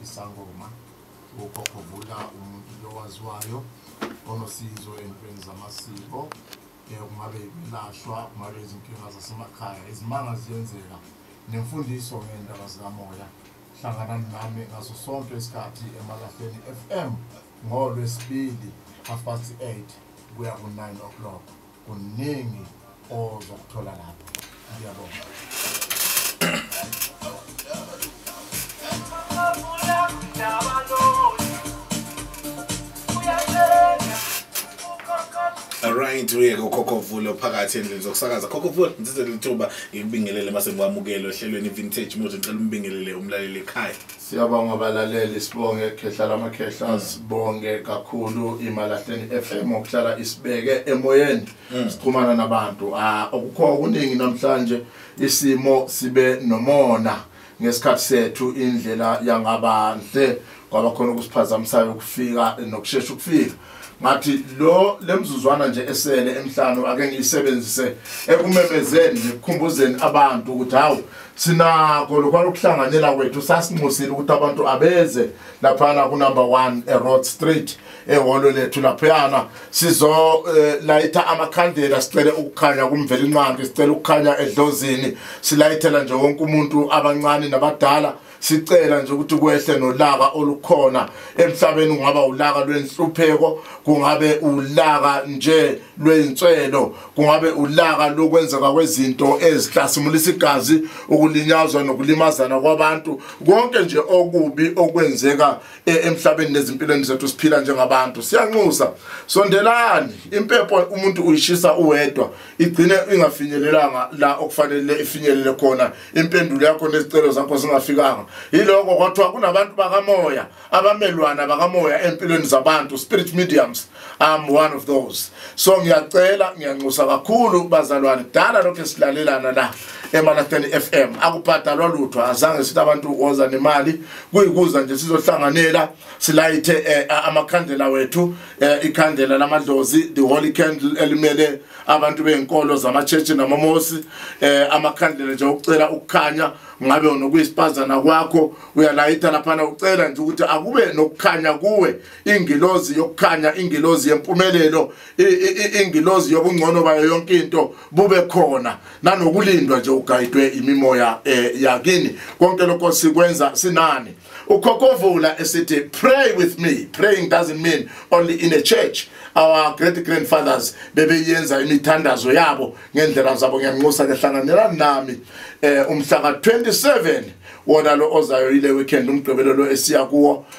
isangoma ukhokhovula umuntu lowaziwayo onosizo entweni zamasiko um kungabe ikulashwa kungabe izinkinga zasemakhaya izimanga ziyenzeka nemfundiso ngeendaba zikamoya hlangana nami ngaso sonke isikhathi emalahleni f m ngolwesibili half past eight kuya ku-nine o'clock kuningi ozokuthola lapho Alright uyeke ukhokho vulo phakathi endlini zokusakaza khokho vulo ngithathe lithuba ngikubingelele mase ngikwamukele ohlelweni vintage mode ngicela umbingelele umlaleli ekhaya Siyabonga balaleli sibonge khehla lamakhehla sibonge kakhulu imalahleni FM okuhlala isibeke emoyeni mm. sixhumana nabantu ah okukho okuningi namhlanje isimo sibe nomona ngesikhathi sethu indlela yangaba nhle kwaba khona ukusiphazamisayo ukufika nokushesha ukufika ngathi lo lemzuzwana nje esele emhlanu ake ngiyisebenzise ekumemezeni nekukhumbuzeni abantu ukuthi hawu sinako lokwalo kuhlanganela kwethu sasinxusile ukuthi abantu abeze lapha ku number 1 e road street ehholo lethu laphayana sizolayitha eh, amakhandela sicele ukukhanya kumveli nqangi sicela ukukhanya edlozini silayithela nje wonke umuntu abancane nabadala sicela nje ukuthi kwehle nolaka olukhona emhlabeni kungaba ulaka lwenhlupheko kungabe ulaka nje lwenswelo kungabe ulaka lokwenzeka kwezinto ezihlasimulisa igazi ukulinyazwa nokulimazana kwabantu konke nje okubi okwenzeka e, emhlabeni nezimpilweni zethu siphila njengabantu siyanxusa sondelani impepho umuntu uyishisa uwedwa igcine ingafinyelelanga la okufanele ifinyelele khona impendulo yakho nezicelo zakho zingafikanga yiloko kwathiwa kunabantu bakamoya abamelwana bakamoya empilweni zabantu spirit mediums I'm one of those so ngiyacela ngiyanxusa kakhulu bazalwane kudala lokho esilalelana la eMalahleni FM akubhadalwa lutho azange sithi abantu woza nemali kuyikuza nje sizohlanganela silayithe eh, amakhandlela wethu eh, ikhandlela lamadlozi the holy candle elimele abantu bezinkolo zamaChurch namamosi eh, amakhandlela nje ukucela ukukhanya ngabe unokuyisipazana kwakho uyalayitha laphana ucela nje ukuthi akube nokukhanya kuwe ingilozi yokukhanya ingilozi yempumelelo ingilozi yobungcono bayo yonke into bube khona nanokulindwa nje ugayidwe imimoya eh, yakini konke lokho sikwenza sinani ukhokovula esithi pray with me praying doesn't mean only in a church our great grandfathers bebeyenza imithandazo yabo ngendlela zabo ngiyanxusa ke hlanganelani nami eh umhla ka 27 wona lo ozayo ile weekend umgqibelo lo esiya kuwo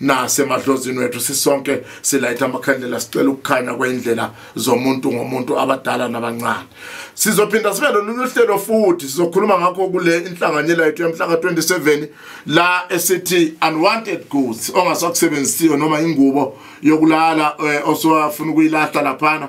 nasemadlozini wethu sisonke silayitha amakhandlela sicela ukukhanya kwendlela zomuntu ngomuntu abadala nabancane sizophinda sibe lolu hlelo futhi sizokhuluma ngakho kule inhlanganyela yethu yamhlaka 27 la esithi unwanted goods ongasakusebenzisiyo noma ingubo yokulala eh, osowafuna ukuyilahla laphana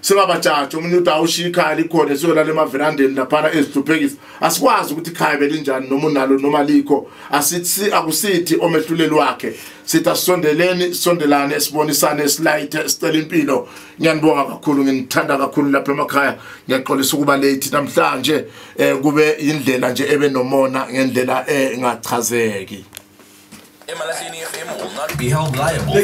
singabajaji omunye uthi awushiya ikhaya likhona siyolala emaverandeni laphana ezihluphekisa asikwazi ukuthi ikhaya belinjani noma unalo noma likho asithi akusithi omehluleli wakhe sithi asisondeleni sondelane sibonisane silayithe sicela impilo ngiyanibonga kakhulu nginithanda kakhulu lapha emakhaya ngiyaxolisa ukuba late namhlanje um kube indlela nje ebe nomona ngendlela engachazeki emalahleni fm will not be held liable